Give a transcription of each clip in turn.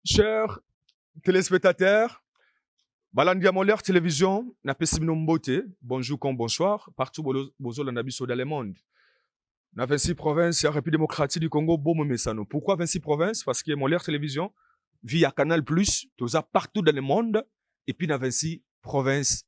Chers téléspectateurs, balandi ya Molaire Télévision, napesi bino mbote, bonjour comme bonsoir, partout bozolanda biso dans le monde. Na 26 provinces ya République démocratique du Congo, bomo mesano. Pourquoi 26 provinces? Parce que Molaire Télévision via Canal+, toza partout dans le monde et puis na 26 provinces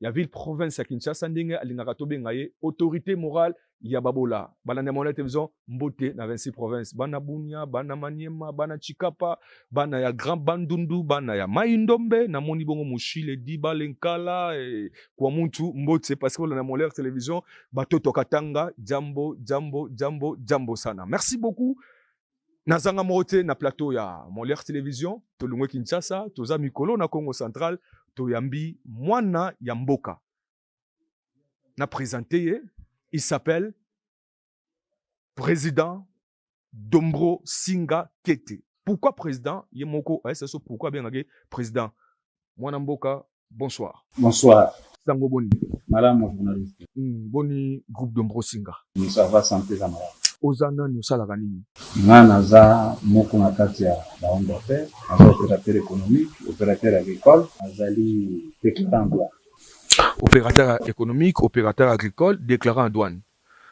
ya ville province ya Kinshasa ndenge alingaka tobenga ye autorité morale ya babola balandi ya mwana television mbote na 26 province bana bunia bana maniema bana chikapa bana ya grand bandundu bana ya mai ndombe namoni bongo mushile diba lenkala eh, kwa muntu mbote parce que balanda mwana television batoto katanga jambo jambo jambo jambo sana merci beaucoup nazanga moko te na plateau ya Molière Television tolongwe Kinshasa toza mikolo na Congo Central toyambi mwana ya mboka na presente ye il s'appelle président Dombro Singa Kete pourquoi président ye moko ayesaso pourquoi abengaki président mwana mboka Bonsoir. Bonsoir. Sango boni? Malamu journaliste. Mm, boni groupe de Mbrosinga. Mm, ça va santé za malamu. Oza nani osalaka nini? Nga naza moko na kati ya ba homme d'affaires, naza opérateur économique, opérateur agricole, nazali déclarant douane. Opérateur économique, opérateur agricole, déclarant douane.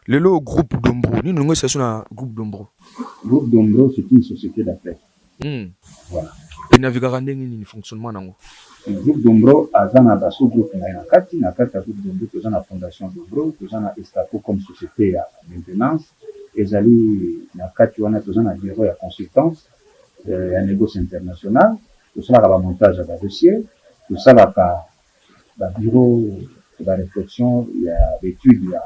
Lelo groupe Dombro nini olingi osalisa na groupe Dombro? Groupe Dombro c'est une société d'appel. Hmm. Voilà. Et navigaka ndenge nini fonctionnement nango? Groupe Dombro aza na ba sous groupe na ye na kati, na kati ya groupe Dombro toza na fondation Dombro, toza na Estaco comme société ya maintenance ezali na kati wana toza na bureau ya consultance euh, ya negoce international tosalaka ba montage ya ba dossier tosalaka Ba bureaux et ba reflexions ya ba etudes ya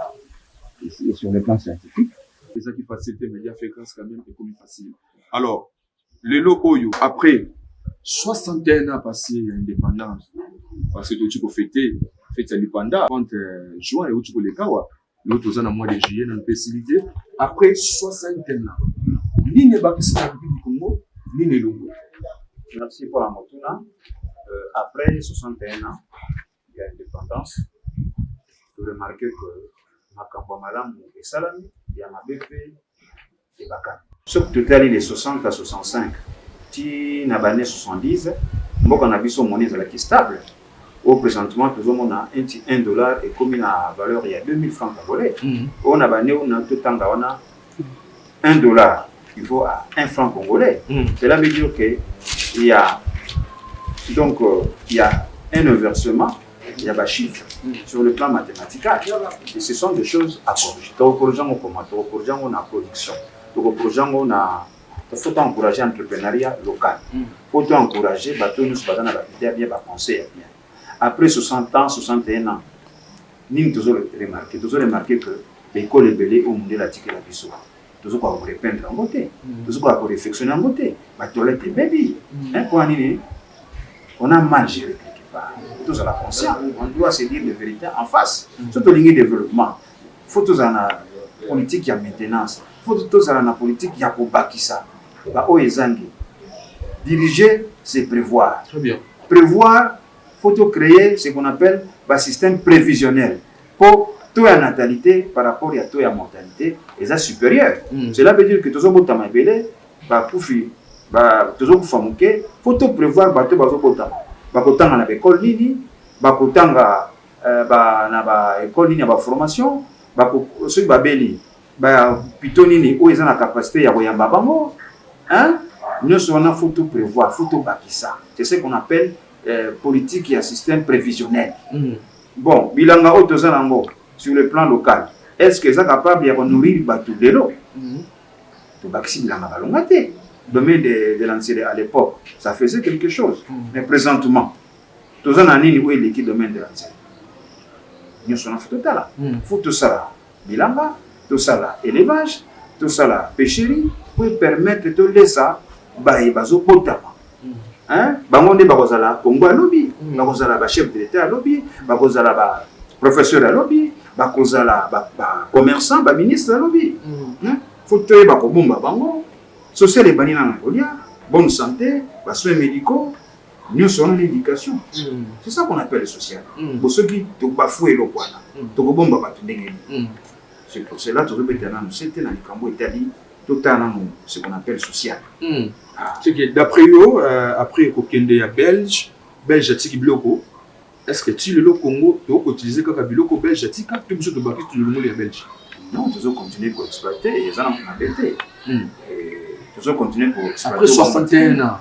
et sur le plan scientifique. Ezalaki facile te mais ya Fegrens quand meme ekomi facile. Alors lelo oyo après 61 ans passes ya independance, parce que touti ko feter fete ya lipanda 30 juin ewuti koleka awa, Lelo toza na mois de juillet na mpe esili te après 60 ans nini ebakisi na mokili Congo nini elongo merci mpo na motuna euh, après 61 ans ya indépendance toremarke que makambo ya malamu esalami ya mabe mpe ebakata. Soki totali les 60 à 65 ti na ba annee 70 mboka na biso monnaie ezalaki stable oyo presentement tozomona un ti 1 dollar ekomi na valeur ya 2000 francs congolais mm. oyo na ba annee oyo na totanga wana 1 dollar il faut à 1 franc congolais mm. cela veut dire que il y a donc euh, il y a un inversement ya ba chiffres sur le plan mathematical et ce sont des choses à corriger tokokorrige yango comment tokokorrige yango na production tokokorrige yango na faut encourager entrepreneuriat local faut to encourager bato oyo nyonso baza na baide ya bien bapense ya bien après 60 ans 61 ans nini tozo remarquer tozo remarquer que baekole ebele oyo mondele atikela biso tozo koka ko repeindre yango te tozo koka ko refectionner yango te ba toilettes ebebi hein pona nini on a mal géré quelque part tozala conscient on doit se dire les vérités en face so tolingi développement faut tozala na politique ya maintenance faut tozala na politique ya kobakisa ba oyo ezangi diriger c'est prévoir prévoir faut to créer ce qu'on appelle ba système prévisionnel Po taux ya natalite par rapport ya taux ya mortalite eza superieur. Cela veut dire que tozo botama ebele, ba kufi ba tozo kufa muke. Faut to prevoir batu bazo botama bako tanga na ba ecoles nini, bako tanga ba na ba ecoles nini ya ba formation, bako soki ba beli ba hopitaux nini oyo eza na capacite yako yamba bango hein. Nionso wana faut to prevoir, faut to bakisa. C'est ce qu'on appelle politique ya système previsionnel. Bon bilanga oyo toza na ngo sur le plan local est ce que eza capable ya ko nourrir batu lelo? To bakisi bilanga balonga te. Domaine de, de la Nsele à l'époque ça faisait quelque chose mais présentement toza na nini oyo eleki domaine de la Nsele? Nioso na faut totala faut tosala bilanga, tosala elevage, tosala pecherie po e permettre tolesa baye bazobotama hein bango nde bakozala Congo ya lobi, bakozala ba chef de l'etat ya lobi, bakozala ba professeur ya lobi, bakozala ba commerçant, ba ministre ya lobi hein faut toyeba kobomba bango, social ebandi nanu na kolia, bonne sante, ba soins medicaux. nionso wana na education c'est ça qu'on appelle social bo soki to bafoue eloko wana toko bomba batu ndenge nini c'est pour cela tozo beta nanu sete na likambo etali totala nanu ce qu'on appelle social ce que d'après yo après ko kende ya belge belge atiki biloko est ce que ti lelo congo to ko utiliser kaka biloko belge atika to biso to baki tulungu ya belge non tozo continuer ko exploiter eza na mabe te tozo continuer ko exploiter après 61 ans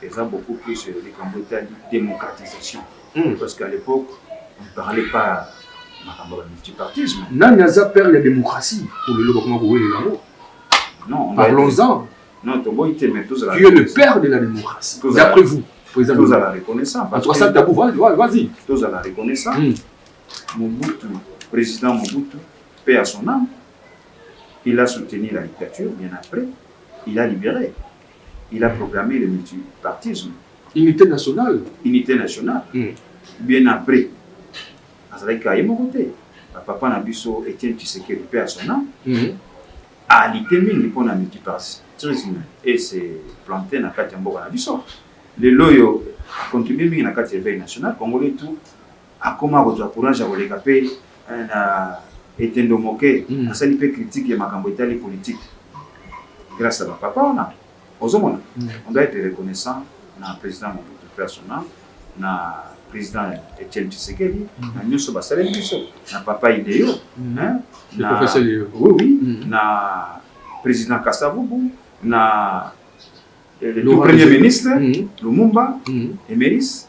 Eza beaucoup plus likambo etali democratisation parce que à l'epoque on parlait pas makambo ya ba multipartisme. Nani aza père ya democratie oyo lelo bakoma kowelela yango? Non, parlons-en. Non, toboyi te mais tozala. Qui est le père de la démocratie d'après vous? Président tozala reconnaissant parce que ça tabou vas-y. Tozala reconnaissant. Mm. Mobutu, président Mobutu, paix à son âme. Il a soutenu la dictature bien après. Il a libéré. Il a proclame le multipartisme. Unite nationale. Unite nationale. Hum. Bien après, azalaki kaka ye moko te. Ba papa na biso Etienne Tshisekedi, paix à son ame, hum. a lutter mingi mpo na multipartisme et se planter na kati ya mboka na biso. Lelo oyo, a contribuer mingi na kati ya eveil national. Congolais tout. Akoma kozwa courage ya koleka mpe na etendo moke asali mpe critique ya makambo etali politique grace ya ba papa wana. Ozomona? On doit etre reconnaissant na President Mobutu, paix à son ame, na President Etienne Tshisekedi, na nionso basaleli biso, na papa Ideo, hein, na, oui, oui, na President Kasa Vubu, na le tout premier ministre Lumumba, Emeris,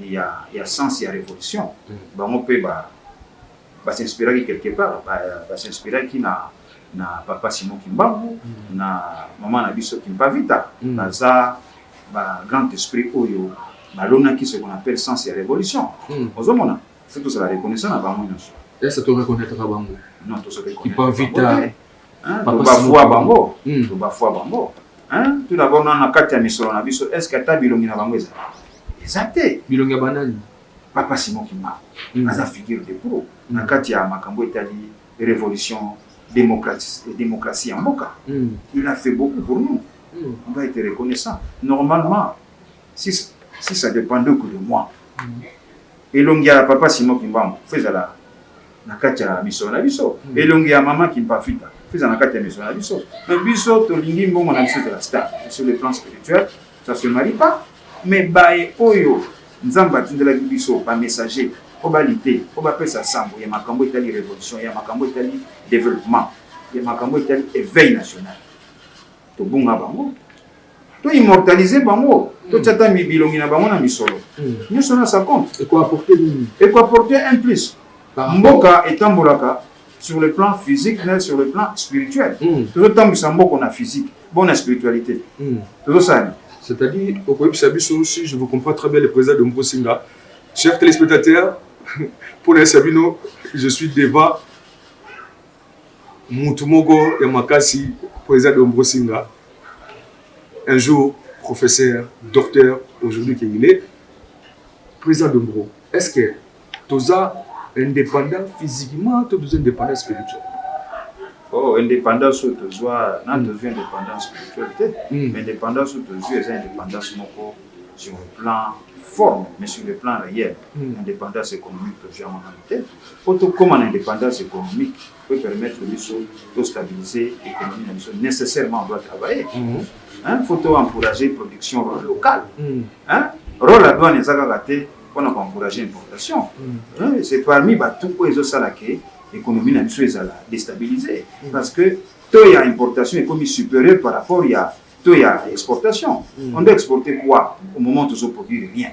ya ya sens ya revolution bango pe ba ba s'inspiraki quelque part ba ba s'inspiraki na na papa Simon kimbangu na maman na biso kimpavita baza ba grand esprit oyo balonaki ce qu'on appelle sens ya revolution ozo mona faut tozala reconnaissant na bango nionso Est ce que to reconnaitre bango? Non, tozo reconnaitre bango te. Kimpavita Hein? Papa Toba Simon fua Kimbangu. bango. Hmm. Toba fua bango. Hein? Tuna bango na kati ya misolo na biso, est-ce que ata bilongi na bango ezali? Eza te. Bilongi ya banani? Papa Simon Kimbangu Hmm. aza figure de pro na Mm. kati ya makambo etali révolution démocratie démocratie ya mboka. Hmm. Il a fait beaucoup pour nous. Hmm. On va être reconnaissant. Normalement, si, si ça dépendait que de moi, Hmm. elongi ya papa Simon Kimbangu faut ezala na kati ya misolo na biso mm. elongi ya mama kimpafita eza na kati ya misolo na biso na biso tolingi mbongo na biso ezala star sur le plan spirituel ça se marie pas mais baye oyo nzambe atindelaki biso bamessager mpo balite mpo bapesa sango ya makambo etali révolution ya makambo etali développement ya makambo etali éveil national tobunga bango to immortaliser bango totya ata bilongi na bango na misolo nyonso na sa compte ekoapporte nini ekoapporte un plus mboka etambolaka sur le plan physique na sur le plan spirituel hmm. tozotambwisa mboko na physique bon na spiritualité hmm. tozosala c'est-à-dire okoyebisa biso si je vous comprends très bien le président de mposinga cher téléspectateur mpo na yesa bino je suis devant Mutu moko ya makasi president Dombrosinga un jour professeur docteur aujourd'hui que il est president Dombro est ce que toza independant physiquement to toza independant spirituel Oh, indépendance oyo tozwa na hmm. tozwi indépendance spirituelle te hmm. mais indépendance oyo tozwi eza indépendance moko sur le plan forme mais sur le plan réel hmm. indépendance économique tozwi yango nano te Po to koma na independance economique po e permettre biso to stabiliser economie na biso necessairement on doit travailler hein faut to encourager production locale hein role ya douane eza kaka te pona ko encourager importation hein c'est parmi ba tout oyo ezo sala ke economie na biso ezala destabiliser parce que taux ya importation ekomi superieur par rapport ya taux ya exportation on doit exporter quoi au moment to zo produire rien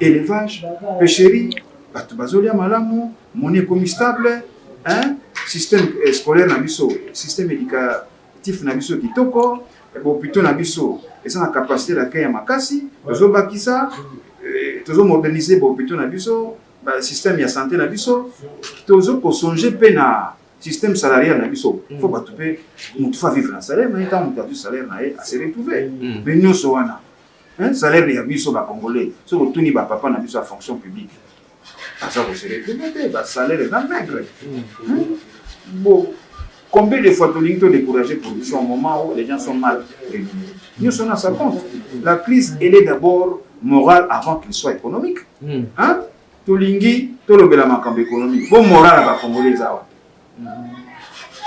Elevage, pecherie, bato bazolia malamu, moni ekomi stable, système eh, scolaire na biso, système éducatif na biso kitoko, eh, bopito na biso eza na capacité d'accueil ya makasi, tozobakisa, eh, tozomodernize bopito na biso, système ya santé na biso, tozo kosonge mpe na système salarial na biso mm. fo bato mpe motu fa vivre na salaire na ye ntango moto azwi salaire na ye ase retrouve mm. mais nyonso wana Hein, salaire ya biso ba congolais, soki otuni ba papa na biso ya fonction publique, baza ko se retrouver te, ba salaire eza maigre. Hmm? Bon, combien de fois tolingi to décourager production au moment où les gens sont mal rémunérés. Nyoso na sa compte. La crise, elle est d'abord morale avant qu'elle soit économique. Hmm. Hein? Tolingi tolobela makambo économique. Bon moral ya ba congolais eza wapi?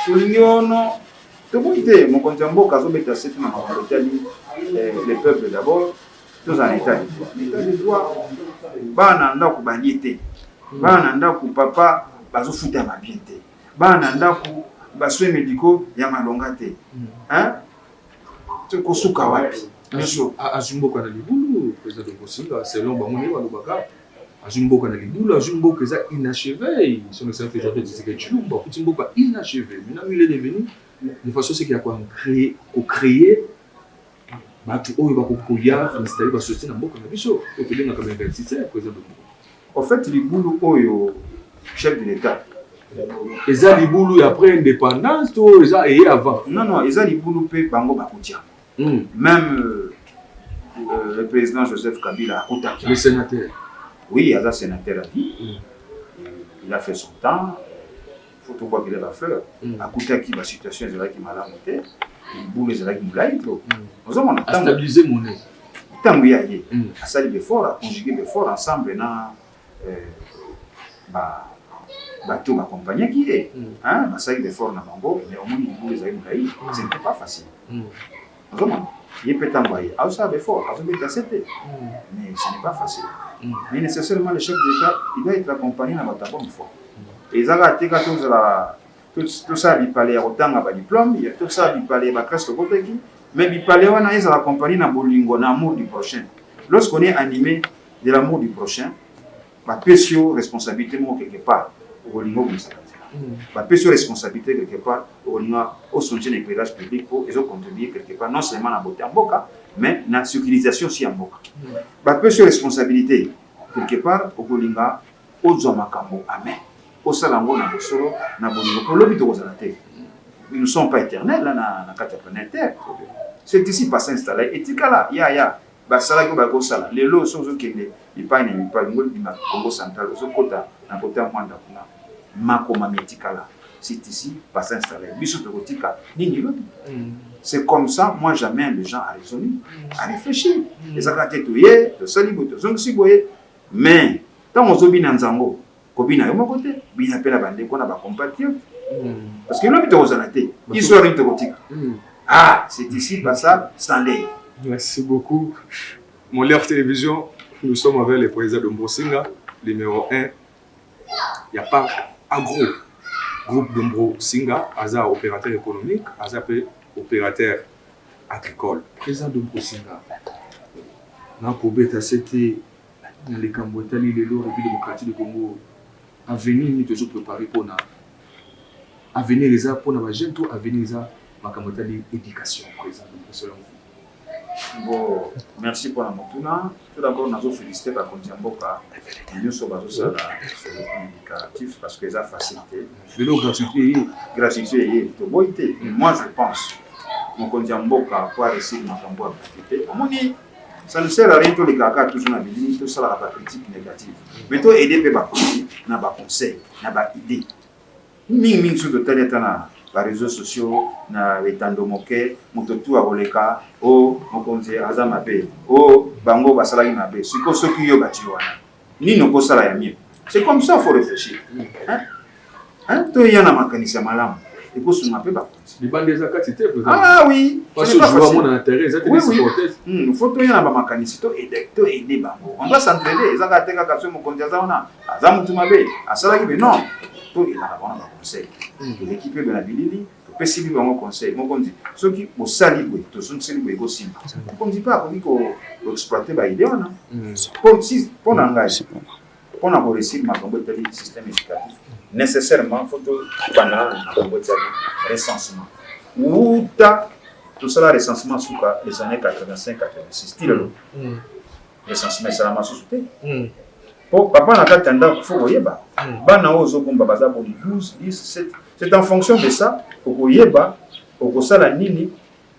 tolingi ono toboyi te mokonzi ya mboka azobeta sete na makambo etali eh, le peuple d'abord tozala na etat de droit etat de droit bana na ndako balie te bana na ndako papa bazofuta ya mabien te bana na ndako basoins médicaux ya malonga te tokosuka wapi biso azwi mboka na libulu president tokosinga selon bango nde balobaka azwi mboka na libulu azwi mboka eza inacheve son excellence président Felix Tshisekedi Tshilombo akuti mboka inacheve maintenant lui il est devenu de façon seke ya kocree kocree bato oyo bakokoya installe ba société na mboka na biso oyo tobengaka ba investisseur président de mboka en fait libulu oyo chef de l'état eza libulu ya après indépendance to eza eye avant non non eza libulu mpe bango bakotia Hum. Même euh, euh, le président Joseph Kabila akutaki. Le sénateur. Oui, aza sénateur à vie. Hum. Il a fait son temps. Faut tout voir qu'il a la fleur. Hum. Akutaki ba situation ezalaki malamu te. Boule ezalaki mulayi trop. Hum. Ozomona ntango. Stabiliser monnaie. Ntango ya ye. Hum. Asali befort, a conjuguer befort ensemble na Ba bateau ba accompagnaki ye hein basalaki ba efforts na bango mais omoni libulu ezali mulayi ce n'etait pas facile ozomona ye pe tangu aye azosala ba efforts azo beta se te mais ce n'est pas facile mais necessairement le chef de l'etat il doit etre accompagne na batu ya bonne foi eza kaka te kaka tozala Tosala bipale ya kotanga ba diplomes, tosala bipale ya ba classes tokotaki, mais bipale wana ezala accompagne na bolingo, na amour du prochain. Lorsque on est anime de l'amour du prochain, ba pesi yo responsabilite moko quelque part, okolinga obongisaka nzela. Ba pesi yo responsabilite quelque part, okolinga o changer na eclairage public po ezo contribuer quelque part non seulement na beaute ya mboka, mais na securisation aussi ya mboka. Ba pesi yo responsabilite quelque part, okolinga Ozua makambo amen osala yango na bosolo na bolingo po lobi tokozala te nous ne sommes pas eternel na na kati ya planète terre c'est ici passe installe etikala ya ya basalaki oyo bakosala lelo oso ozokende epai na epai ngoli bima Congo central ozokota na kota mwanda kuna makomami etikala c'est ici passe installe biso tokotika nini lobi c'est comme ça moi j'amène les gens à raisonner à réfléchir ezalaka te toye tosali boye tozongisi boye Mais tango ozo bina nzango ko bina yo moko te bina pe na ba ndeko na ba compatriotes parce que lobi toko zala te histoire nini toko tika ah c'est ici passa Stanley merci beaucoup Molière Television nous sommes avec le président de Mbrosinga numéro 1 ya parc agro groupe de Mbrosinga aza opérateur économique aza pe opérateur agricole. President Domi Kosinga, nakobeta sete na likambo etali lelo Republique democratique du Congo, avenir nini tozo preparer pona avenir eza pona ba jeunes to avenir eza makambo etali education? President Domi Kosinga. Bon, merci pona motuna. Tout d'abord nazo feliciter ba konzi ya mboka nioso bazo sala educatif parce que eza facile te. Lelo gratuité eye. Gratuité eye toboyi te. Moi je pense mokonzi ya mboka po a réussir makambo ya gratuité omoni ça ne sert à rien tolekaka kaka toujours na bilili tosalaka ba critique négative mais to aide mpe bakonzi na ba conseil na ba idée Mingi mingi soki totali ata na ba reseaux sociaux na etando moke, moto tu akoleka o oh, mokonzi aza mabe, o oh, bango basalaki mabe. Siko soki yo bati wana, nini okosala ya mieux? C'est comme ça faut réfléchir. Hein? Hein? Toya na makanisi ya malamu ekosunga mpe bango. libanda eza kati te ah oui parce que joueur mona na terrain eza te oui, supporter hmm faut to yana ba makanisi to aider to aider bango on doit s'entraider eza ka te kaka somo konja za wana aza mutu mabe asalaki mais non to ina ba wana ba conseil hmm. l'équipe de la bilili pesi bino yango conseil mokonzi soki bosali boye tozongiseli boye ekosimba mokonzi mpe akoki koexploite baide wana mpo hmm. na ngai pona ko reussir makambo etali système educatif necessairement faut tobanda na makambo etali recensement wuta tosala recensement suka les années 85 86 ti lelo mm. recensement esalama susu te mm. po papa na kati ya ndako fo koyeba mm. bana oyo ozobomba baza boni 12 10 7 c'est en fonction de ça okoyeba okosala nini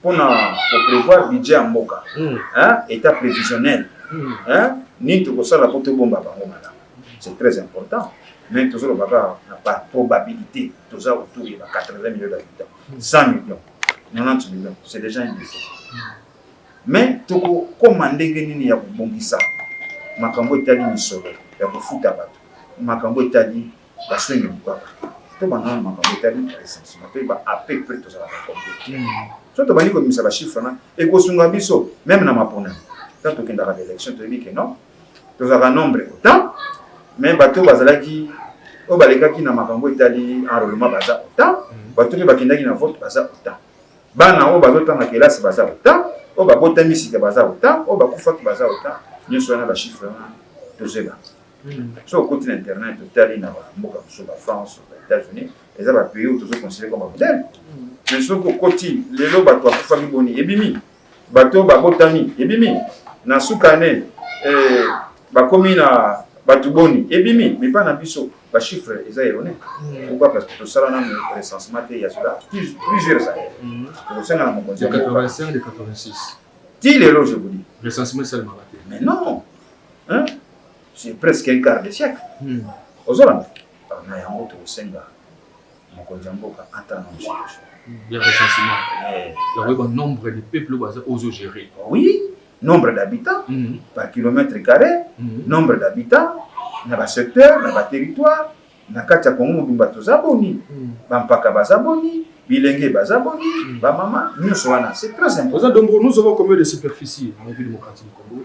pona ko prevoir budget ya mboka hmm. hein etat previsionnel hmm. hein nini tokosala po tobomba bango malamu c'est très important mais tozoloba kaka na ba probabilité toza autour ya ba 80 millions d'habitants 100 millions 90 millions c'est déjà un défaut mais tokokoma ndenge nini ya kobongisa makambo etali misolo ya kofuta bato makambo etali Baswenge bukaka to banganga makambo etali recensement to ba à peu près tozalaka combien so tobandi kobimisa ba chiffre na ekosunga biso meme na maponami ntango tokendaka ba élection toyebi ke non tozalaka nombre autant mais bato bazalaki oyo balekaki na makambo etali enrôlement baza autant bato mpe bakendaki na vote baza autant bana oyo bazotanga kelasi baza autant oyo babotami sika baza autant oyo bakufaki baza autant nyonso wana ba chiffre wana tozela soki okoti na internet otali na bamboka mosusu ba france ba états-unis eza bapays oyo tozo considere comme babudele me soki okoti lelo bato bakufaki boni ebimi bato babotami ebimi na suka ne eh, bakomi na bato boni ebimi mipa na biso bachiffre eza erone pourquoi parce que tosala nano recensement te ya cela plusieurs années mm. tokosenga na mokonzi ti lelo je vous dis mais non hein? c'est presque un quart de siècle hmm. ozolanda na yango tokosenga mokonzi ya mboka ata na mosusu ya recensement yango yeba nombre de peuple oyo baza ozo gérer oui nombre d'habitants hmm. par kilomètre carré hmm. nombre d'habitants na basecteur na baterritoire na kati ya kongo mobimba toza boni bampaka baza boni bilenge baza boni bamama nyonso wana c'est très important oza donc nous avons combien de superficie en république démocratique du congo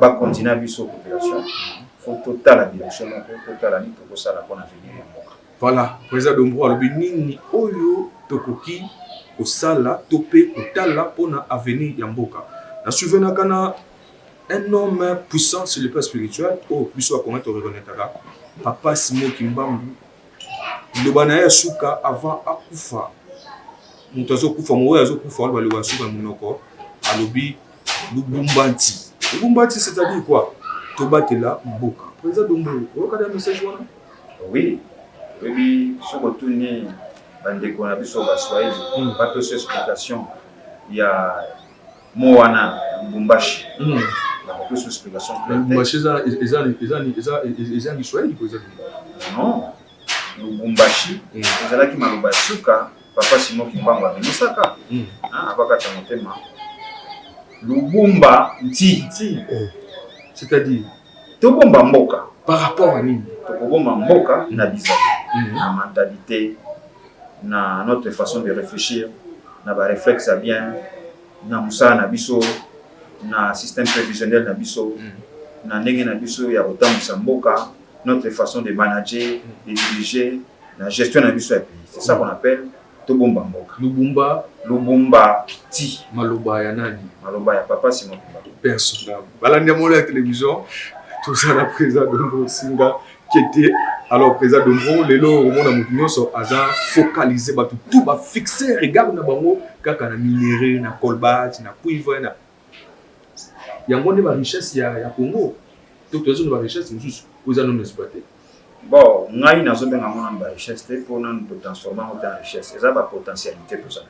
bakonzi na biso population faut totala direction moko totala nini tokosala mpona avenir ya mboka voilà président dombro alobi nini oyo tokoki kosala to mpe kotala mpona avenir ya mboka na souvenaka na un homme puissant sur le plan spirituel oyo oh, biso bakongai torekonetaka papa simo kimbambu liloba naye ya suka avant akufa mutu azo kufa oyo azo kufa aloba liloba ya suka na munoko alobi lubumbanci lubumbanci c'est à dire quoi tobatela mboka president dombo oyoka na message wana oui oyebi soki otuni bandeko na biso baswahili hmm. bapesa explication ya Mot wana Lubumbashi. Mm. Nakopesa explication claire. Lubumbashi eza eza eza eza eza Kiswahili ko eza Non. Lubumbashi mm. ezalaki maloba ya suka papa Simon Kimbangu abimisaka. Mm. Ah, abakata motema. Lubumba nti. Nti. Oh. C'est-à-dire Tobomba mboka par rapport à nini? Tokobomba mboka na bizaleli, mm -hmm. na mentalite, na notre façon de réfléchir, na ba réflexes ya bien, na mosala na biso, na système prévisionnel na biso, mm -hmm. na ndenge na biso ya kotambwisa mboka, notre façon de manager, mm -hmm. de diriger, na gestion na biso ya pays. C'est ça qu'on appelle Tobomba mboka. Lubumba. Lubumba ti. Maloba ya nani? Maloba ya papa Simon kimbangu. Berceau ndambu balandi ya molo ya television toza na presa dombo singa kete alors presa dombo lelo omona moto nyonso aza focalise bato tout bafixe regard na bango kaka na minerai na colbat na cuivre na Yango nde ba richesse ya congo to toza na ba richesse mususu oyo eza nanu exploite? Bon ngai nazo benga yango nanu ba richesse te po nanu to transforma yango te en richesse eza ba potentialite toza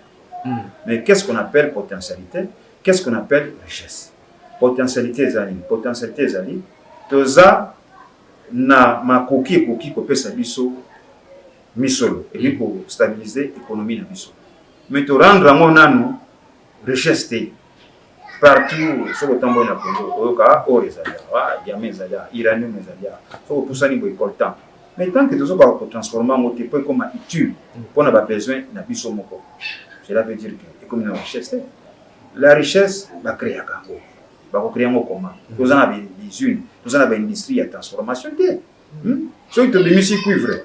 na yango mais qu'est ce qu'on appelle potentialite qu'est ce qu'on appelle richesse? Potentialite eza nini? Potentialite ezali toza na makoki ekoki ko pesa biso misolo ekoki ko stabiliser economie na biso mais to rendre yango nanu richesse te partout soki otamboli na congo okoyoka or ezali awa diama ezali awa iranium ezali awa soki opusani boye coltan mais tant que tozokaka kotransforme yango te mpo ekoma utile mpo na babesoin na biso moko cela veut dire que ekomi na richesse te la richesse bacreaka yango bakokrea yango koma toza na bausine toza na baindustrie ya transformation te hmm? soki tobimisi cuivre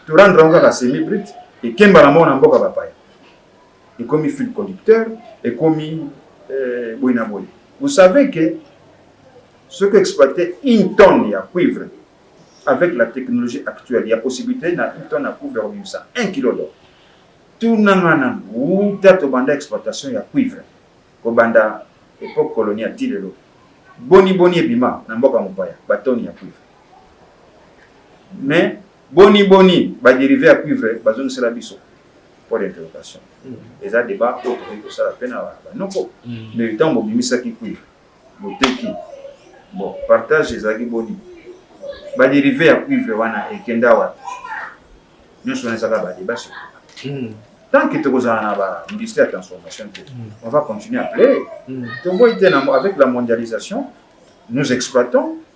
torendre yango kaka semi brute ekemba na moko na mboka bapaya ekomi fil conducteur ekomi euh, boye na boye vous savez que soki exploiter une tonne ya cuivre avec la technologie actuelle ya possibilité na une tonne ya cuivre kobimisa 1 kilo d'or tunanga na wuta tobanda exploitation ya cuivre kobanda epoque coloniale ti lelo boni boni ebima na mboka mopaya batoni ya cuivre mais Boni boni ba derives ya cuivre bazongisela biso? Point d'interrogation. Eza debat oyo tokoki kosala mpe na ba noko. Mais tango bobimisaki cuivre, boteki, bon partage ezalaki boni? Ba derives ya cuivre wana ekenda wapi? Nionso wana eza kaka ba debats surtout. Tant que tokozala na ba industries ya transformation te, on va continuer à pleurer. Toboyi te na avec la mondialisation, nous exploitons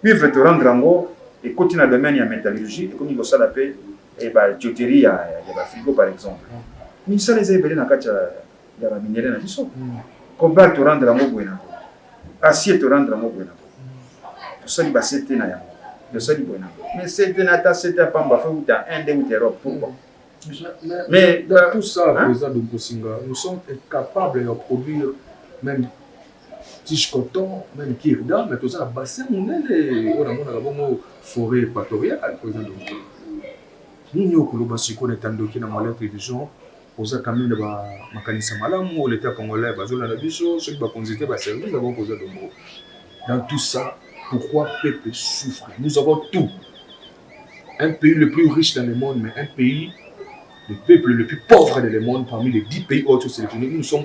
Cuivre to rendre yango ekoti na domaine ya metallurgie, ekomi kosala pe ba tuyauterie ya ba frigo par exemple. Misala eza ebele na kati ya ba minerais na biso. Cobalt to rendre yango boye na boye, acier to rendre yango boye na boye. Tosali ba CT na yango, tosali boye na boye. Mais CT na ata CT ya pamba faut euta Inde euta Europe, pourquoi? Mais dans tout ça, President Dumbusinga, nous sommes incapables ya produire meme tige coton meme kirda mais toza na bassin monene oyo namonaka bongo foret equatoriale oyo eza ndoki nini oyo koloba sikoyo na etandoki na moyen television oza kami na makanisa malamu oyo leta congolais bazolanda biso soki bakonzi te baservice bango koza dongo dans tout ça pourquoi peuple souffre nous avons tout un pays le plus riche dans le monde mais un pays le peuple le plus pauvre dans le monde parmi les 10 pays autres sélectionnés nous sommes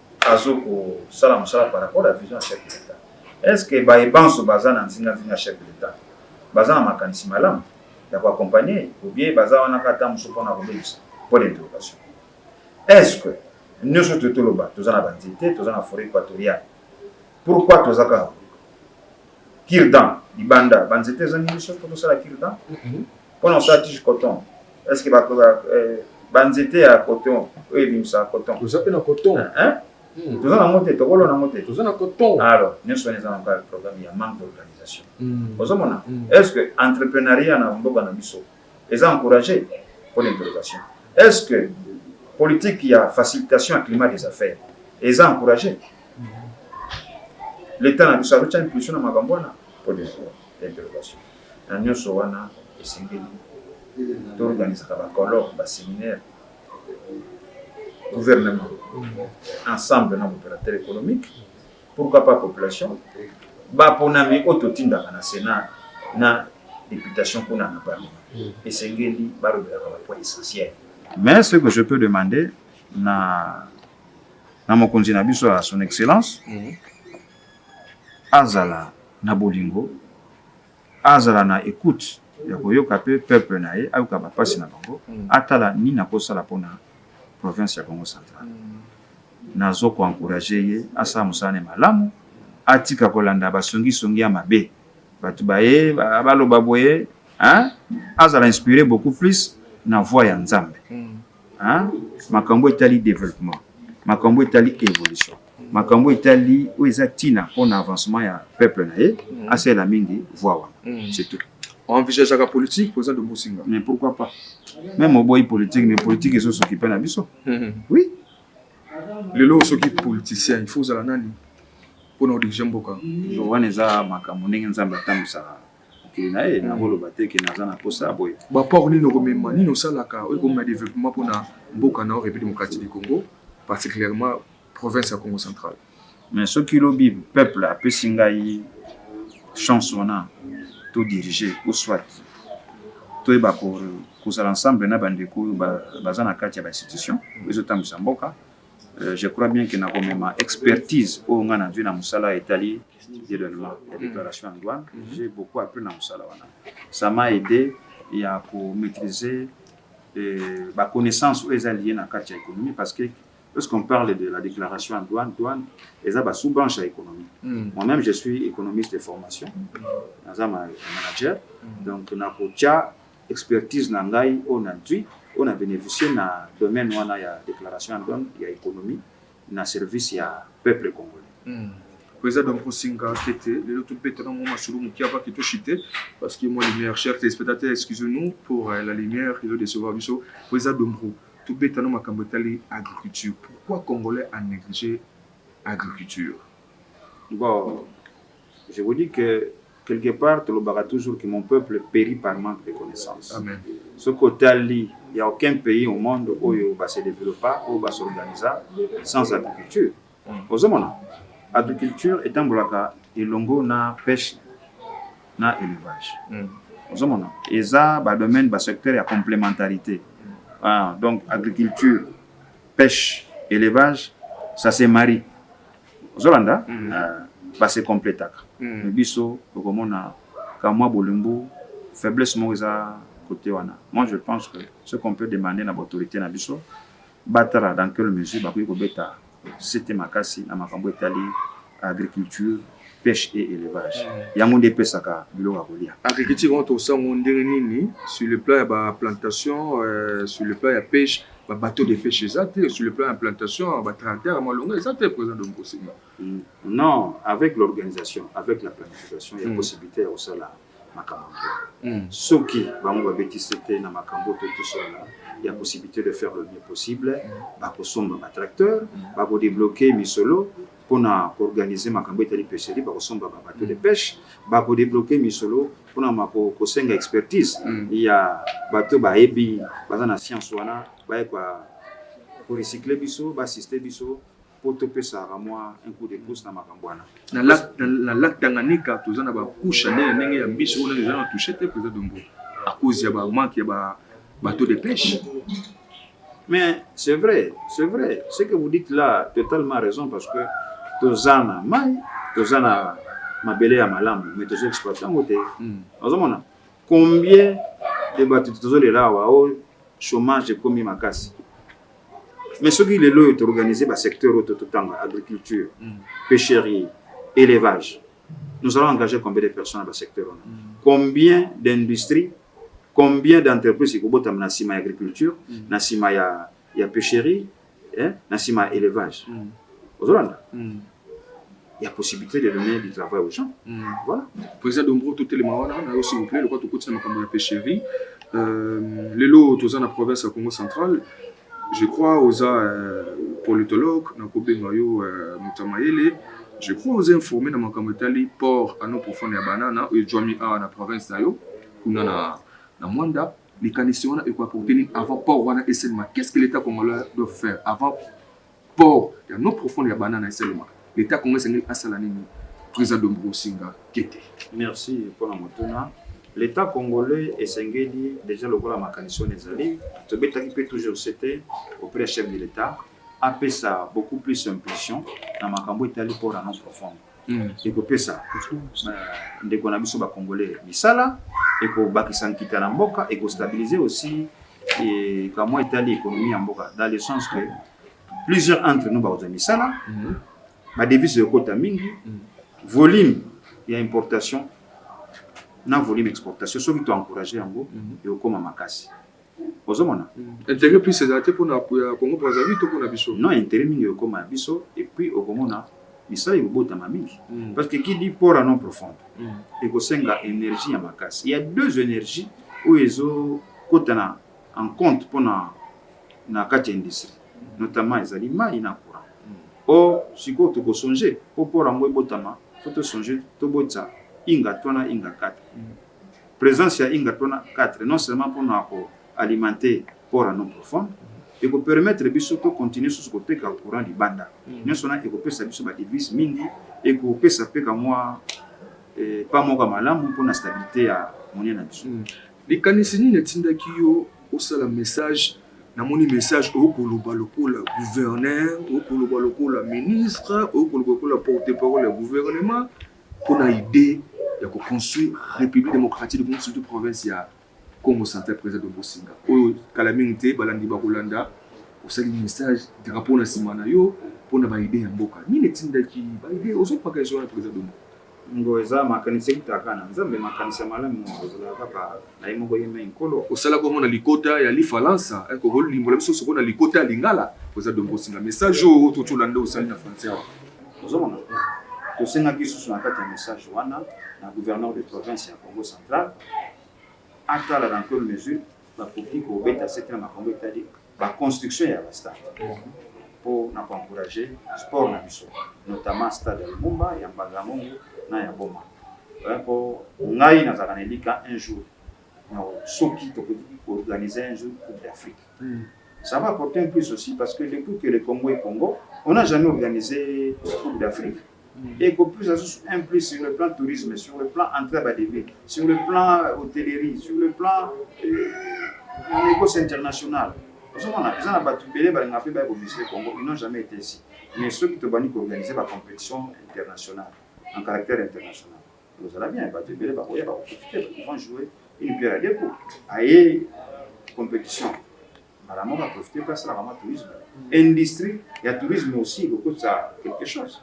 azo ko sala musala par rapport ya vision ya chef de l'etat est ce que baye banso baza na nzinga nzinga ya chef de l'etat baza na makanisi malamu ya ko accompagner ye ou bien baza wana kaka tango mosusu pona kobebisa point d'interrogation est ce que nioso toye toloba toza na ba nzete toza na foret equatoriale Pourquoi toza kaka kirdan libanda ba nzete ezangi biso po tosala kirdan mpo na kosala tige coton est ce que euh, ba nzete ya coton oyo ebimisaka coton toza mpe na coton hmm. toza nango te tokolona yango te toza na coton alors nyonso wana eza na kaka programme ya manque d'organisation hmm. ozomona hmm. est ce que entreprenariat na mboka na biso Eza encourage? Point d'interrogation. Est ce que politique ya facilitation ya climat des affaires eza encourage? L'Etat na biso azo tia impulsion na makambo wana? Point d'interrogation. Na nionso wana esengeli to organisaka ba colloques, ba seminaires, gouvernement ensemble na ba operateur economique, Pourquoi pas population? Ba ponami oyo totindaka na Senat na deputation kuna na Parlement esengeli balobelaka ba points essentiels. Mais ce que je peux demander na na mokonzi na biso ya son excellence, azala na bolingo azala na ecoute ya koyoka pe peuple na ye ayoka ba pasi na bango atala nini ako sala pona province ya Kongo central na zo ko encourager ye asala musala na ye malamu atika ko landa ba songi songi ya mabe batu baye ba loba boye hein azala inspire beaucoup plus na voix ya nzambe hein makambu etali developpement makambu etali evolution. makambo etali oyo eza ntina mpo na avancement ya peuple na ye mm. asalela mingi voix wana mm. c'est tout envisageaka politique oza de bosinga mais pourquoi pas même oboyi politique mais politique ezosoki mpe na biso mm-hmm. oui lelo soki politicien il faut ozala nani mpo na odirige mboka wana eza makambo ndenge nzambe atambwisaka mokili na ye nakoloba mm. te ke naza na mposa ya boye baport nini okomema nini osalaka oyo ekomema développement mpo na mboka na yo république démocratique du congo particulièrement province ya Congo central. Mais soki lobi peuple apesi ngai chance wana to diriger ou soit toyeba kozala ensemble na bandeko oyo baza na kati ya ba institution ezotambwisa mboka Euh, je crois bien que nakomema expertise oyo ngai nazwi na mosala etali dédouanement ya déclaration ya douane j'ai beaucoup appris na mosala wana ça m'a aidé ya komaîtrise euh, baconnaissance oyo eza lie na kati ya économie parce que Lorsqu'on parle de la declaration en douane, douane eza ba sous-branches ya economie. Mm. Moi-même je suis économiste de formation, naza ma manager, mm. donc nakotia expertise na ngai oyo na ntui oyo na bénéficier na domaine wana ya déclaration en douane ya économie na service ya peuple congolais. Mm. Président eza donc kosenga tete lelo tobetana mwa masolo moke avaki toshite parce que moi lumière chers téléspectateurs excusez nous pour euh, la lumière ezo décevoir biso po eza dombro Tobeta no makambo etali agriculture pourquoi congolais a neglige agriculture? Bon je vous dis que quelque part tolobaka toujours que mon peuple peri par manque de connaissance soki otali ya aucun pays au monde oyo ba se developpa oyo ba s'organisa sans agriculture Ozo mona? Agriculture etambolaka elongo na peche na elevage. Ozo mona? Eza ba domaines, ba secteurs ya complementarite. Haa donc agriculture, peche, elevage ça se marie. Ozo landa? Haa ba se completaka. Mais biso oko mona ka mwa bolembu, faiblesse moko eza cote wana. Moi je pense que ce qu'on peut demander na ba autorites na biso, Batala dans quelle mesure bakoki kobeta sete makasi na makambo etali agriculture, peche et elevage. Mm. Yango nde epesaka biloko ya kolia. Agriculture wana tosango ndenge nini sur le plan ya ba plantation, euh, sur le plan ya peche, ba bateau de peche eza te, sur le plan ya plantation, ba tracteur ya malonga eza te, president de Mposenga. Non, avec l'organisation, avec la planification, il y a possibilité ya kosala makambo yango. Soki bango babeti sete na makambo oyo toyei tosolola, il y a possibilité de faire le mieux possible, bakosomba ba tracteurs, bakodebloquer misolo mpo na koorganiser makambo etali pecherie, bakosomba ba bateaux de peche, bakodebloquer misolo mpo na mako- kosenga expertise ya bato bayebi, baza na science wana, baye ko recycler biso, ba assister biso. po topesaka mwa un coup de pouce na makambo wana. Na lac, na, na lac Tanganyika toza na ba couche ndenge na ndenge ya mbisi oyo eza na touche te president Dombo à cause ya ba manque ya ba bateau de pêche. Mais c'est vrai, c'est vrai. Ce que vous dites là, totalement raison parce que toza na mai, toza na mabele ya malamu, mais tozo exploiter yango te. Mm. Ozomona? Combien de bato tozo lela awa o oh, chômage ekomi makasi mais soki lelo oyo toorganize basecteur oyo totanga agriculture mm. pêcherie élevage nous allons engager combien de personnes na basecteur wana mm. combien d'industrie combien d'entreprise ekobotama na nsima ya agriculture mm. na nsima ya, ya pêcherie hein, na sima ya élevage mm. ozolanda mm. ya possibilité de donner du travail aux gens mm. voilà président dombro totelema wana na yo s'il vous plaît lokola tokoti na makambo ya pêcherie euh, lelo toza na province ya congo central je crois oza euh, politologue nakobenga yo euh, moto ya mayele je crois oza informé na makambo etali port ano profonde ya banana oyo ejwami awa na province na yo kuna na, na mwanda Likanisi wana eko apporter nini avant port wana esalema? Qu'est-ce que l'Etat congolais doit faire avant port ya no profonde ya Banana esalema? L'Etat congolais esengeli asala nini? President Dombu Osinga Kete. Merci mpo na motuna. L'Etat congolais esengeli dejà lokola makanisi wana ezali, tobetaki mpe toujours sete auprès ya chef de l'Etat apesa beaucoup plus impulsion na makambo etali port ya no profonde. mm. ekopesa ndeko na biso ba congolais misala ekobakisa nkita na mboka ekostabilise aussi et quand moi etali économie en mboka dans le sens que plusieurs entre nous bakozwa misala mhm. badevise ekota mingi mhm. volume ya importation na volume exportation soki toencourage yango mhm. ekokoma makasi ozomona intérêt plus ezala te mpona ya congo brazzaville to mpona biso non intérêt mingi ekokoma ya biso et puis okomona misala ekobotama mingi mm. parce que qui dit port à non profonde mm. ekosenga énergie ya makasi il y a deux énergie oyo ezokota na en compte mpona na kati ya industrie notamment ezali mai na courant mm. or sikoyo tokosonge mpo port yango ebotama fo tosonge tobotisa inga twana inga kata mm. Presence ya Inga Tona IV non seulement mpo na ko alimenter port ya Nom Profond, eko permettre biso to continuer susu koteka courant libanda. Nionso wana ekopesa biso ba devises mingi, ekopesa mpe ka mwa eh, pas moko ya malamu mpo na stabilite ya monnaie na biso. Likanisi nini etindaki yo osala message? Namoni message oyo koloba lokola gouverneur, oyo koloba lokola ministre, oyo koloba lokola porte-parole ya gouvernement. Pona idee ya ko construire Republique Democratique du Congo surtout province ya Kongo Central President Don Bosinga oyo kala mingi te balandi bakolanda osali message drapeau na sima na yo pona ba idee ya mboka nini etindaki ba idee ozo paka ezo wana President Don Ngo eza makanisi ewutaka na Nzambe makanisi ya malamu ezalaka kaka na ye moko yemei nkolo. Osala bongo na likota ya lifalansa eh, koko limbola biso soko na likota ya lingala oza dongo osinga message oyo otocola nde osali na français awa ozomona tosengaki susu na kati ya message wana na gouverneur de province ya congo central atala dans quelle mesure bakoki kobeta sete na makambo etali ba construction ya ba stade po na ko encourager sport na biso notamment stade ya Lumumba, ya Mbanza Ngungu na ya Boma. Hein, po ngai nazalaka na elika un jour na soki tokoki ko organiser un jour Coupe d'Afrique. Mm. Ça va apporter un plus aussi parce que depuis que le Congo est Congo, on n'a jamais organisé Coupe d'Afrique. Eko plus azo un plus sur le plan tourisme, sur le plan entree ya ba devis, sur le plan hotellerie, sur le plan negoce international. Ozo mona eza na batu ebele ba lingaka pe baya ko visiter Congo, ils n'ont jamais ete ici. Mais soki to bandi ko organiser ba competitions internationales en caractère international, eko zala bien, batu ebele bakoya bako profiter, ils vont jouer une pierre à deux coups, aye competition. mbala moko a profiter pe asalaka mwa tourisme, industrie ya tourisme aussi ekokotisa quelque chose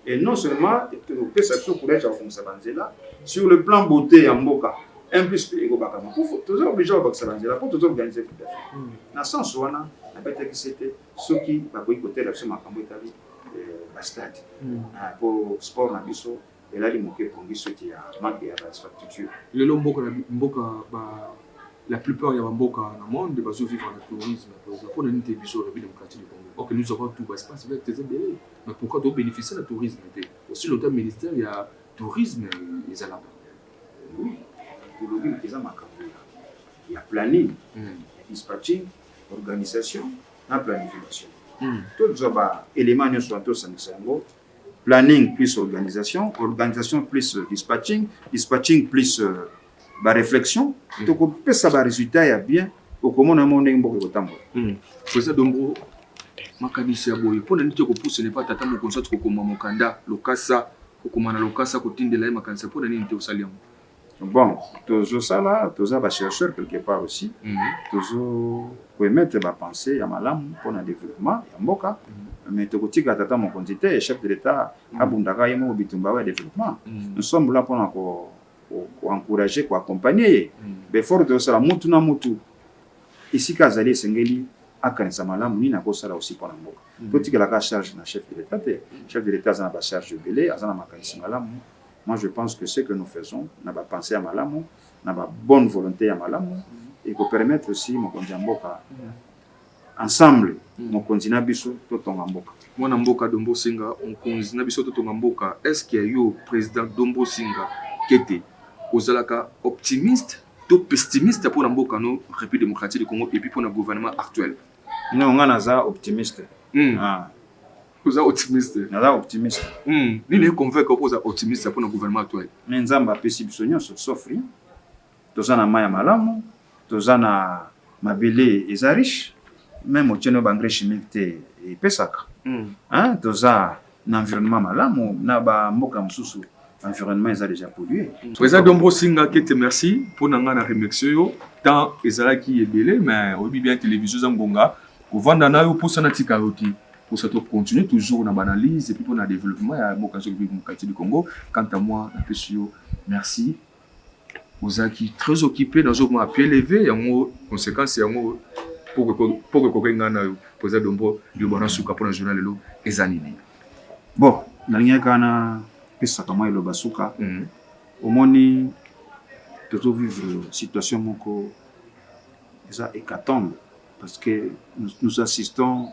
et non seulement ekopesa biso courage ya kobongisa ba nzela sur le plan beaute ya mboka un plus pe ekobakama po toza oblige ya kobakisa ba nzela po toza organise coupe d'Afrique na sens wana nabetaki sete soki bakoki kotela biso makambo etali ba stade po sport na biso Elali moke epongi suite ya manque ya ba infrastructure. Lelo mboka na mboka ba la plupart ya ba mboka na monde bazo vivre na tourisme na tourisme pona nini te biso Republique Democratique du Congo or que nous avons tout ba espace vert eza ebele mais pourquoi to beneficier na tourisme te aussi longtemps ministère ya tourisme ezalaka oui olobi eza makambo ya ya planning mm. ya dispatching organisation na planification mm. tozwa ba élément nyonso wana tosangisa yango planning plus organisation, organisation plus dispatching, dispatching plus euh, ba réflexion mm. tokopesa ba résultat ya bien okomona yango ndenge mboka ekotambola mm. pesa dombo makanisi ya boye mpo na nini te kopusana epa tata mokonzi ati kokoma mokanda lokasa kokoma na lokasa kotindela ye makanisi mpo na nini te osali yango Bon, tozosala toza ba chercheur quelque part aussi mm -hmm. tozo koemettre ba pensée ya malamu mpo na développement ya mboka mm -hmm. mais tokotika tata mokonzi te chef de l'etat mm -hmm. abundaka ye moko bitumba ya développement mm -hmm. nous sommes là mpo na ko koencourage ko koaccompagne ye mm -hmm. befort tozosala mutu na mutu esika azali esengeli akanisa malamu nini akosala aussi mpo na mboka mm -hmm. totikelaka charge na chef de l'etat te mm -hmm. chef de l'etat aza na bacharge ebele aza na makanisi malamu Moi je pense que ce que nous faisons na ba pensees ya malamu na ba bonne volonte ya malamu eko permettre aussi mokonzi ya mboka ensemble mm. mokonzi na biso totonga mboka mwana mboka dombo singa mokonzi na biso totonga mboka est ce que yo président dombo singa kete ozalaka optimiste to pessimiste mpo na mboka no république démocratique du congo epuis mpo na gouvernement actuel non ngai naza optimiste mm. ah. oza optimiste naza optimiste hmm. nini econvainc oko oza optimiste mpona gouvernement actuel me nzambe apesi biso nyonso sauf rien toza na mai ya malamu toza na mabele eza riche meme otieno baengrais chimique te epesaka hmm. toza na environnement malamu na bamboka mosusu environnement eza déjà pollué président dombo singa kete merci mpo na ngai na remercie yo temps ezalaki ebele mais oyebi bien télévision eza ngonga kovanda na yo mposa natika yo te posa to continuer toujours na ba analyse epuis pona developpement ya mboka soki vive mokati du Congo quant à moi napesi yo merci ozalaki très occupé nazomona pied levé yango conséquence yango poko ekoki ngai nayo poza dombo liloba na suka mpona journal lelo eza nini bon nalingaki kaka napesaka mwa eloba suka mhm. omoni tozo vivre situation moko eza hécatombe parce que nous, nous assistons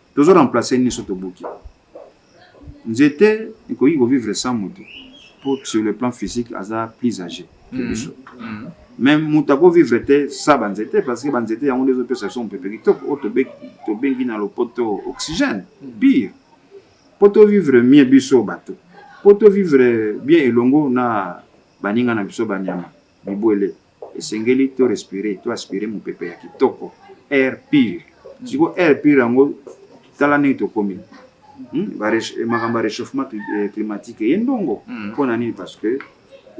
tozo remplacer nini so tobuki nzete ekoki ko vivre sans moto pour sur le plan physique aza plus âgé que mm-hmm. biso mm-hmm. mais moto ako vivre te sa banzete parce que banzete yango nde ezopesa biso mopepe kitoko oyo tobengi na lopoto oxygène mm-hmm. pire mpo tovivre mie biso bato mpo tovivre bien elongo na baninga na biso banyama Bibwele esengeli to respirer to aspirer mopepe ya kitoko, air pur. Siko air pur yango tala ndenge tokomi. Hmm? Eh, makambo ya réchauffement eh, climatique eye ndongo hmm. mpo na nini parce que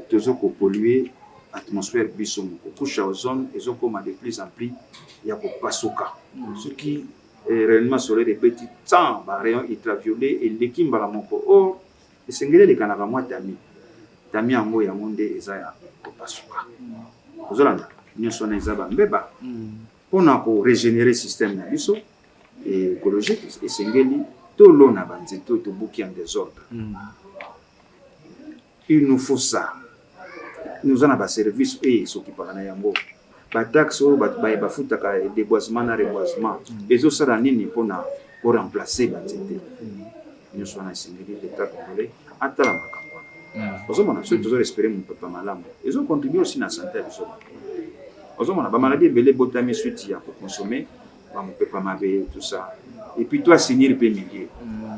tozo kopollue atmosphère biso moko couche ya ozone ezokoma de plus en plus ya kopasuka hmm. soki eh, rayonnement solaire ebeti 100 ba rayon ultraviolet eleki mbala moko or Esengeli elekanaka mwa tamis, tamis yango yango nde eza ya kopasuka. Ozo landa? Nionso wana eza ba mbeba pona ko regenerer système na biso ecologique esengeli tolona ba nzete oyo tobuki en desordre. Il nous faut ça. Oza na ba service oyo esokipaka na yango ba taxe oyo baye bafutaka deboisement na reboisement mm. ezosala nini mpona ko remplacer ba nzete mm. nyonso wana esengeli leta congolais atala makambo wana mm. ozomona soki tozo respire mopepa malamu ezo contribue aussi na sante ya biso bato ozomona ba maladie ebele ebotami suite ya kokonsome ba mopepa mabe tout ça epuis to asinir mpe milieu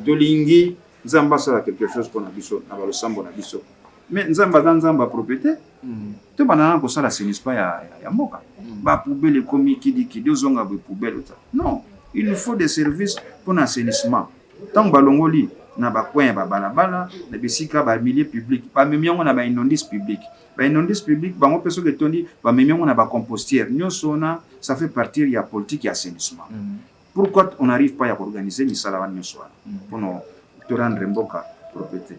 tolingi Nzambe asala quelque chose pona biso na ba losambo na biso. Mais Nzambe aza Nzambe ya propriete. Mm. To bana na kosala assainissement ya, ya, ya mboka. Mm. Ba poubelle ekomi kidi kidi ozonga bo poubelle ta. Non, il nous faut des services pona assainissement. Tango balongoli na ba coin ya ba balabala, na bisika ba milieu public, ba memi yango na ba inondice public. Ba inondice public bango pe soki etondi ba memi yango na ba compostière. Nyoso na ça fait partir ya politique ya assainissement. Mm. Pourquoi on n'arrive pas ya koorganize misala wana nyonso wana mpo na torendre mboka proprete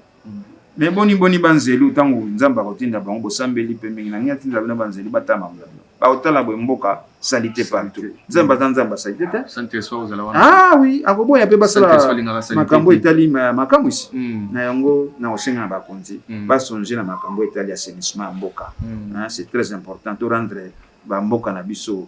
me boni boni banzelu ntango nzambe akotinda bango bosambeli mpe mingi na nini atinda bino banzelu batala makambo na bino bakotala boye mboka salite partout nzambe aza nzambe ya salite te ah oui akoboya mpe basala makambo etali makamwisi hmm. na yango na kosenga na bakonzi hmm. basonge na makambo etali assainissement ya mboka hmm. c'est très important torendre bamboka na biso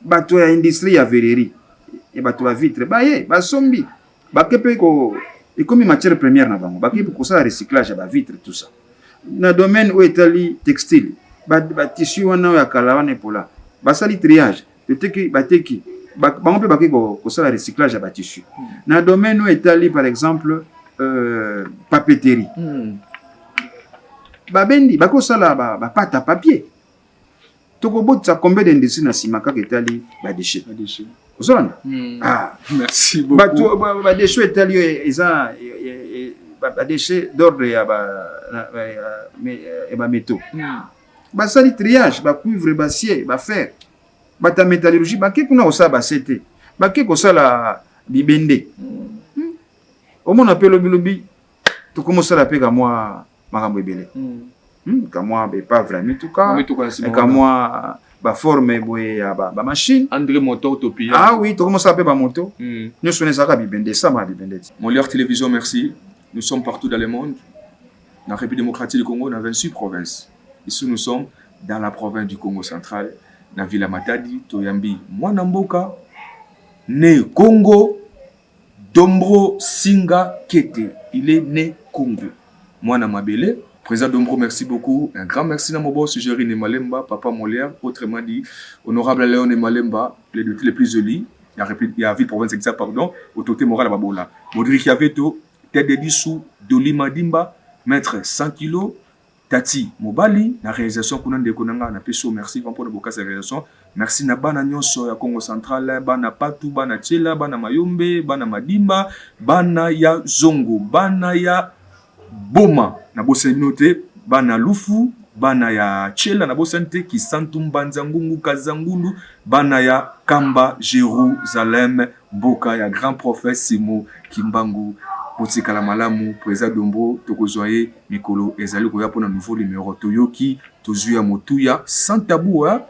bato ya industrie ya verrerie ya bato ba vitre baye basombi bake mpe ekomi matière première na bango bake kosala recyclage ya ba vitre tout ça na domaine oyo etali textile batissu wana oyo ya kala wana epola basali triage toteki bateki bango mpe bake kosala recyclage ya batissu hmm. na domaine oyo etali par exemple euh, papeterie hmm. babendi bakosala bapate ba ya papier toko botisa combien d'industrie na sima kaka etali ba déchets ba déchets ozolanda hmm. ah merci beaucoup bato ba, ba déchets etali eza ba déchets d'ordre ya ba ya ba métaux hmm. basali triage ba cuivre ba cier ba fer bata métallurgie bake kuna kosala ba CT bake kosala bibende hmm. omona mpe lobilobi tokomosala mpe kamwa makambo ebele hmm, kamwa baepave ya mituka kamwa baforme boye ya bamachine andre motor topiya ah oui tokomosala mpe bamoto hmm. nyonso wana ezalaka bibende esama ya bibende ti moliar télévision merci nous sommes partout dans le monde na république démocratique du congo na 26 province ici nous sommes dans la province du congo central na villa matadi toyambi mwana mboka ne congo Dombro singa kete il est ne congo mwana mabele. President Dombro merci beaucoup un grand merci na moboss Jerry ne Malemba papa Molière autrement dit honorable Leon ne Malemba le depute le plus zeli ya Republique ya ville province Exa pardon autorité morale ya babola Modric Yaveto tête de Bissou Dolly Madimba maitre 100 kilos Tati mobali na realisation kuna ndeko na nga na pesi yo merci grand pona bokasi ya realisation merci na bana nionso ya kongo central bana patu bana tiela bana mayombe bana madimba bana ya zongo bana ya boma na bosani bino te bana lufu bana ya tiela na bosani te kisantu mbanza ngungu kazangulu bana ya kamba jerusalem Mboka ya grand prophet Simon kimbangu botikala malamu president Dombro tokozua ye mikolo ezali koya pona nouveau numero toyoki tozui ya motuya sans tabou hein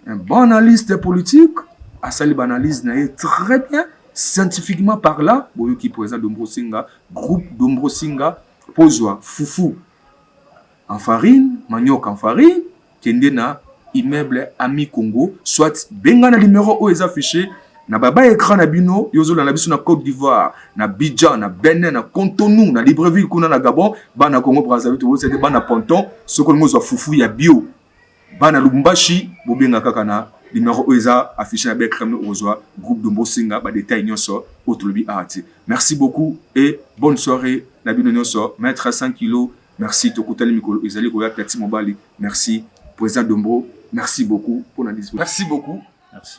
un bon analyste politique asali ba analyse na ye très bien scientifiquement parlant boyoki president Dombro Singa groupe Dombro Singa pozua fufu en farine manioc en farine kende na immeuble ami congo soit benga na numero oyo eza affiche na baba ecran na bino yo ozolanda biso na cote d'ivoire na bidjan na benin na contonu na libreville kuna na gabon bana congo brazzaville tokoyebisa te bana ponton soki olingi ozwa fufu ya bio bana lubumbashi bobenga kaka na numero oyo eza affiche na becrem okozwa groupe dombo osenga badetail nyonso oyo tolobi awa te merci beaucoup et bonne soirée na bino nyonso maitre 100 kilo Merci tokutani mikolo ezali koya platine mobali merci president dombro merci beaucoup pona dispo. Merci beaucoup. Merci.